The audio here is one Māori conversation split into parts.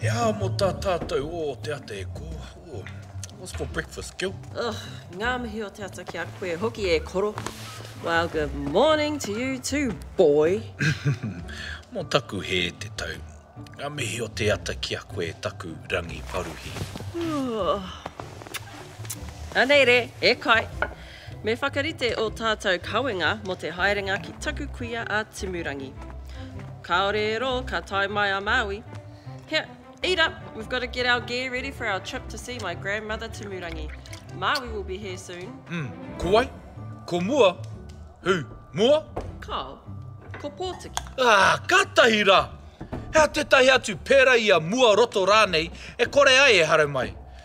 He aha mo ta tatou o te ata e ko? What's for breakfast, Gil? Oh, ngā mihi o te ata ki a koe hoki e koro. Well, good morning to you too, boy. mo taku he te tau. Ngā mihi o te ata ki a koe taku rangi paruhi. Oh. Anei re, e kai. Me whakarite ō tātou kawenga mō te haerenga ki taku kuia a Timurangi. Kāore e rō ka tae mai a Māui. He, eat up! We've got to get our gear ready for our trip to see my grandmother Timurangi. Māui will be here soon. Mm, ko wai? Ko mua? Who? Mua? Kāo. Ko Pōtiki. Ah, kātahi rā! Hea tētahi atu, pērā i a Mua Roto rānei, e kore ai e haramai.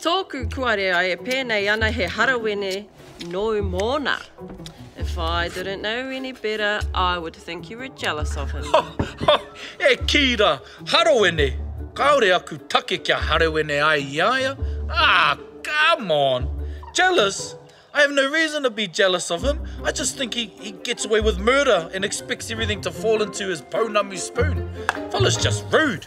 Tōku kuarea e pēnei ana he harawene nōu mōna. If I didn't know any better, I would think you were jealous of him. E kī rā, harawene! Kāore aku take kia harawene ai i a ia. Ah, come on! Jealous? I have no reason to be jealous of him. I just think he, he gets away with murder and expects everything to fall into his pounamu spoon. Fella's just rude.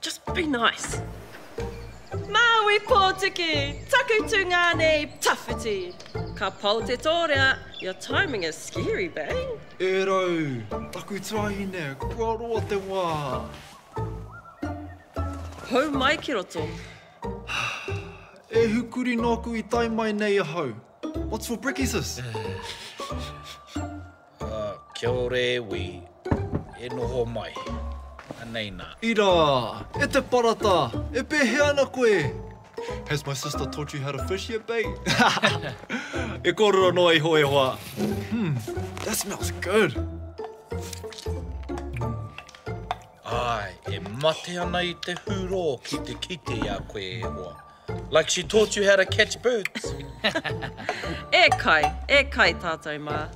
Just be nice. Māui pōtiki! Taku tūngā nei, tawhiti! Ka pau te tōrea, your timing is scary, bae! E rau, taku tuahine, kua roa te wā! Hou mai ki roto! E hukuri nōku i tae mai nei ahau. What's for brickyses? Kia ora e wi, e noho mai, anei na. Ira, e te parata, e pehea ana koe? Has my sister taught you how to fish yet, bae? e korero noa iho e hoa. Hmm, that smells good. Ae, e mate ana i te huroo ki te kite i a koe e hoa. Like she taught you how to catch birds. E kai, e kai tātou mā.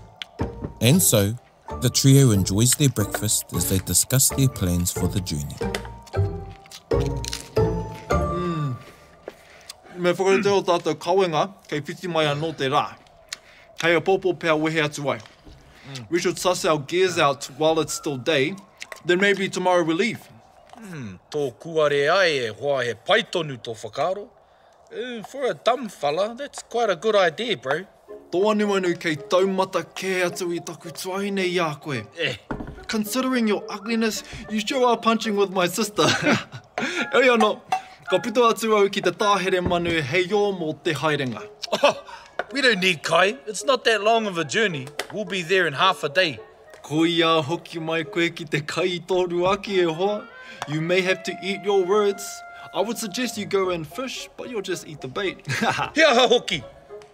And so, the trio enjoys their breakfast as they discuss their plans for the journey. Me whakarite o tātou kawenga kei whiti mai anō te rā. Hei apōpō pea wehe atu ai. We should suss our gears out while it's still day, then maybe tomorrow we leave. Umm, tō kūare ai e hoa he pai tonu tō whakaaro. Ooh, for a dumb fella, that's quite a good idea, bro. Tōanuanu kei taumata kē atu i taku tuahine i a koe. Eh. Considering your ugliness, you sure are punching with my sister. Heoi anō, ka puta atu au ki te tāhere manu heio mō te haerenga. Oh, we don't need kai, it's not that long of a journey, we'll be there in half a day. Ko ia hoki mai koe ki te kai i tō ruaki e hoa, you may have to eat your words. I would suggest you go and fish, but you'll just eat the bait. He aha hoki?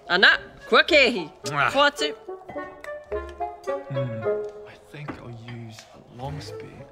Ana, kua kēhi. Hoatu. Hmm, I think I'll use a long spear.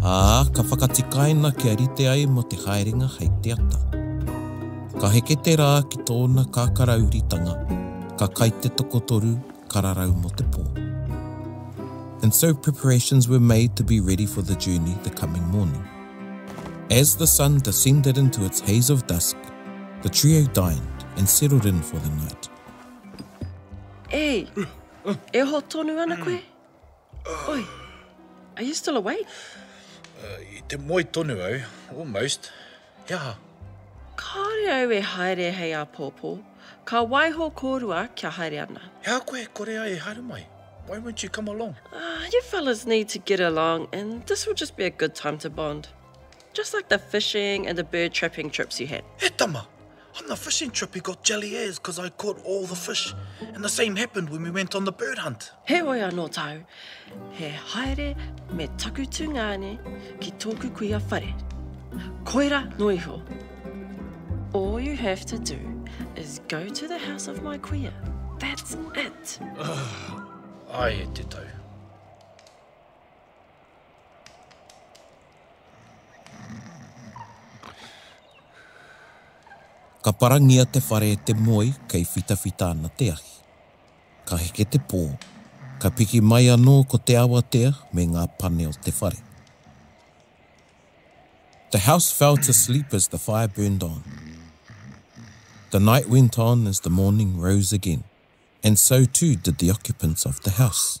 Ā, ka whakatikaina kia rite ai mō te haerenga hei te ata. Ka heke te rā ki tōna kākarauritanga, ka kai te tokotoru kararau mō te pō. And so preparations were made to be ready for the journey the coming morning. As the sun descended into its haze of dusk, the trio dined and settled in for the night. Ei! E ho tonu ana koe? Oi, are you still awake? Uh, I te moe tonu au, almost. He aha? Kāore au e haere hei āpōpō. Ka waiho kōrua kia haere ana. He aha koe e kore ai e haere mai? Why won't you come along? Uh, you fellas need to get along and this will just be a good time to bond. Just like the fishing and the bird trapping trips you had. He tama! On the fishing trip he got jelly as cause I caught all the fish and the same happened when we went on the bird hunt. Heoi anō tāu, he haere me taku tungāne ki tōku kuia whare. Koirā noa iho. All you have to do is go to the house of my kuia, that's it! Ai e te tau. Ka parangia te whare e te moe kei whitawhita ana te ahi. Ka heke te pō, ka piki mai anō ko te awatea me ngā pane o te whare. The house fell to sleep as the fire burned on. The night went on as the morning rose again, and so too did the occupants of the house.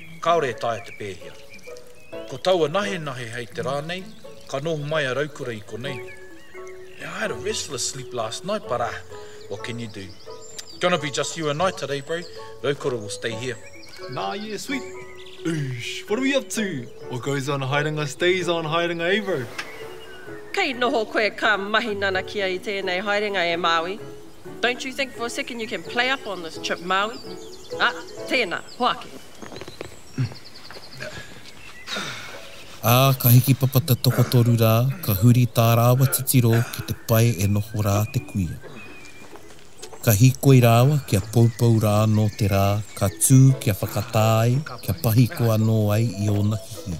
Kāore e taea te pēhia. Ko taua nahenahe hei te rā nei, ka noho mai a Raukura i konei. Yeah, I had a restless sleep last night, but ah, what can you do? Gonna be just you and I today, bro. Raukura will stay here. Nah, yeah, sweet. Eesh, what are we up to? What goes on haerenga stays on haerenga, eh, bro? Kei noho koe ka mahi nanakia i tēnei haerenga, e Māui? Don't you think for a second you can play up on this trip Maui? Ah, tēnā, hoake. Ā, ka hiki papa te tokotoru rā, ka huri tā rāua titiro ki te pae e noho rā te kuia. Ka hīkoi rāua kia poupou rā anō te rā, ka tū kia whakatā ai, kia pahiko anō ai i ōna hihi.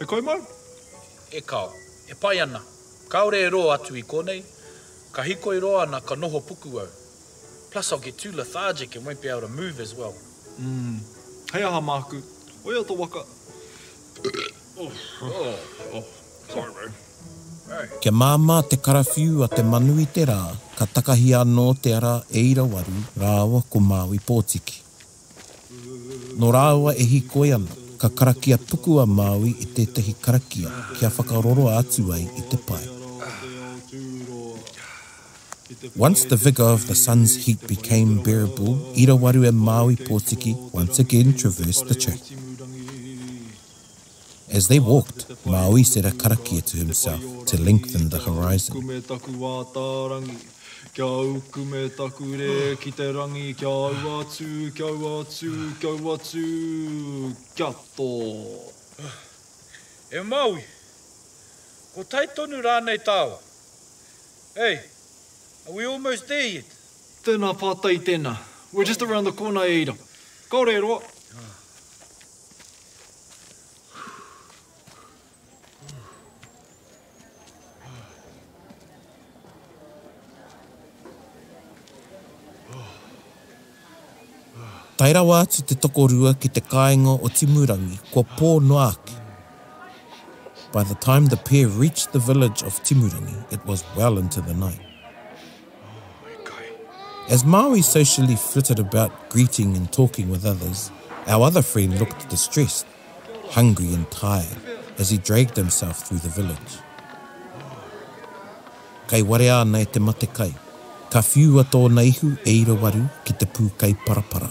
E kai mai? E kao. E pai ana. Kaore e roa atu i konei. Ka hikoi roa ana ka noho puku au. Plus I'll get too lethargic and won't be able to move as well. Umm. Hei aha maku? Oia to waka. Sorry bro. Kia māmā te karawhiu a te manu i te rā, ka takahia anō te ara e irawaru rāua ko Māui Pōtiki. Nō rāua e hīkoi ana, ka karakia puku a Māui i tētahi karakia kia whakaroroa atu ai i te pae. Once the vigour of the sun's heat became bearable, i rawaru e Māui Pōtiki once again traversed the track. As they walked, Maui said a karakia to himself to lengthen the horizon. Kia au kume taku wā tārangi Kia au kume taku rē ki te rangi Kia au atu, kia au atu, kia au atu Kia tō E Maui! Ko tai tonu rānei tāu? Hey! Are we almost there yet? Tēnā pātai tēnā We're just around the corner e ira Kāore e roa! Tae rawa atu te tokorua ki te kāinga o Timurangi, kua pō noa ake. By the time the pair reached the village of Timurangi, it was well into the night. As Māui socially flitted about greeting and talking with others, our other friend looked distressed, hungry and tired as he dragged himself through the village. Kai warea ana e te matekai, ka whiua tōna ihu e Irawaru ki te pūkai parapara.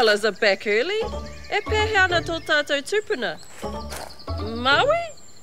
fellas are back early. E pēhea ana tō tātou tūpuna? Māui?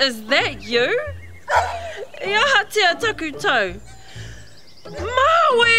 Is that you? I ahatia taku tau? Māui!